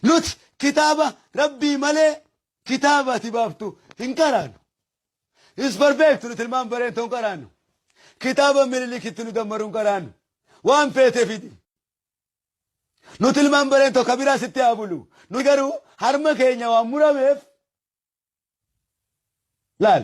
Nuti kitaaba rabbii malee kitaaba ati baaftu hin qaraanu. Is barbeektu nuti ilmaan bareentoo hin qaraanu. Kitaaba minilikitti nu dammaru hin qaraanu. Waan feete fidi. Nuti ilmaan bareentoo kabiraa sitti haa bulu. Nuti garuu harma keenya waan murameef laal.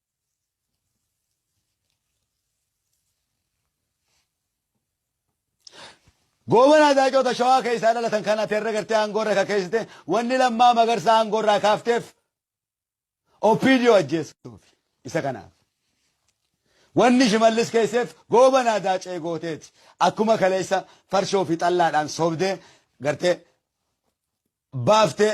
Goobanaa Zaacoota Shawaa keessaa dhalatan kana teerra gartee aangoo irra kakeessite wanni lammaa magarsaa aangoo irraa kaafteef OPDO ajjeessuuf isa kanaaf. Wanni shimallis keesseef goobanaa daacee gooteeti. Akkuma kaleessa farshoo fi xallaadhaan sobdee gartee baaftee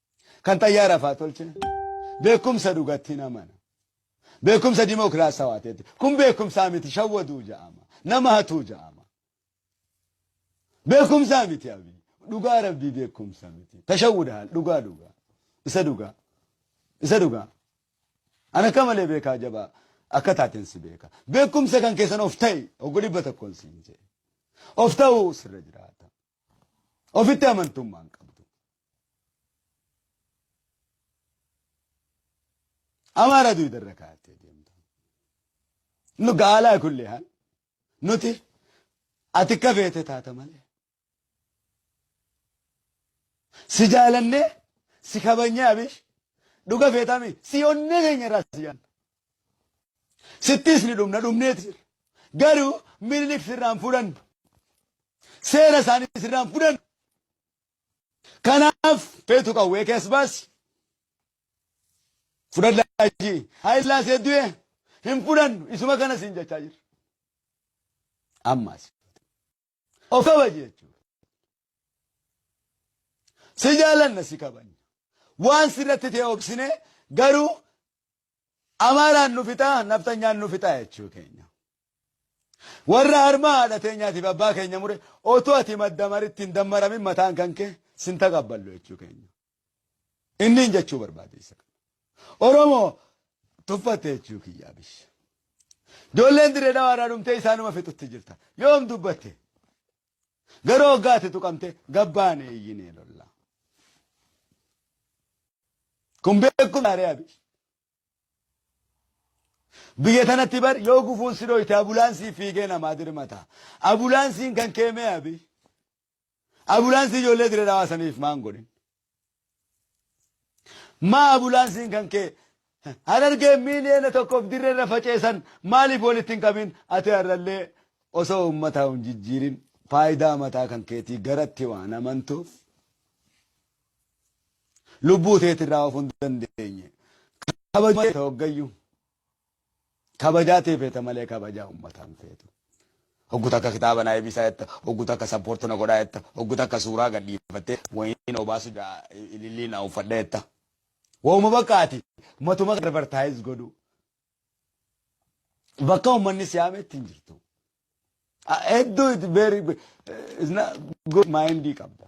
Kan xayyaara faa tolchina. Beekumsa dhugatti hin amana. Beekumsa dimookiraasawaa ta'etti. Kun beekumsaa miti shawwaduu ja'ama. Nama hatuu ja'ama. Beekumsaa miti abii. Dhugaa rabbii beekumsa miti. Tashawwuda haal dhugaa dhugaa. Isa dhugaa. Isa dhugaa. Ana akka malee beekaa jabaa akka taateen si beeka. Beekumsa kan keessan of ta'i oggu dhibba tokkoon siin jedhe. Of ta'uu sirra jiraata. Ofitti amantummaan qaba. Amaara duyda irra kaa'attee deemtu. Nu gaalaa kulli haan nuti ati akka feete taata malee. Si jaalannee si kabanyee abish dhuga feetami si onnee keenya irraa si jaalna. Sittis ni dhumna dhumneeti jirra. Garuu minilik sirraan fudhannu. Seera isaanii sirraan fudhannu. Kanaaf feetu qawwee kee as baasi. Fudhadhaa jii. Haayillaasee du'e hin fudhannu isuma kana siin jechaa jirra. Ammaas of kabaji jechuudha. Si jaalanna si kabanya. Waan sirratti ta'e obsine garuu Amaaraan nu fixaa, nafxanyaan nu fixaa jechuu keenya. Warra harmaa haadha teenyaatiif abbaa keenya mure otoo ati maddamaritti hin dammaramin mataan kan kee sin taqabballu jechuu keenya. Inniin jechuu barbaade isa kana. Oromoo tuffatte jechuu kiyyaa bish. Ijoolleen dirree dhawaa irraa dhumtee isaanuma fixutti jirta. Yoom dubbatte? Garuu hoggaa ati tuqamte gabbaane iyyinee lolla. Kun beekuun gaarii abi. Biyya tanatti bar yoo gufuun si dhoyte abulaansii fiigee namaa dirmata. Abulaansiin kan keemee abi. Abulaansii ijoollee dire dhawaasaniif maan godhin. Maa abulaansiin kan kee harargee miiliyoona tokkoof dirreerra faceesan maaliif walitti hin qabin ati har'allee osoo uummataa hin jijjiirin faayidaa mataa kan keetii garatti waan amantuuf lubbuu teetirraa of hin dandeenye. Kabajamee ta'e hoggayyuu. Kabajaa tee feeta malee kabajaa ummataa hin feetu. Hoggu takka kitaaba na eebisaa jetta, hoggu takka sappoorti na godhaa jetta, hoggu takka suuraa gad dhiifattee wayiin obaasu ja'a ilillii na uffadha jetta. Wauma bakka ati matuma advertise godhu. Bakka ummanni si yaametti hin jirtu. Hedduu it's very it's not good mind qabda.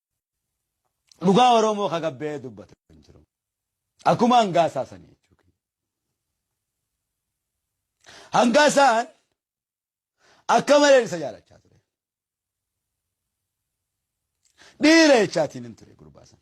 Dhugaa Oromoo ka gabbee dubbatu hin jiru. Akkuma hangaasaa sanii jechuudha. Hangaasaan akka malee isa jaalachaa ture. Dhiira jechaatiin hin ture gurbaa sana.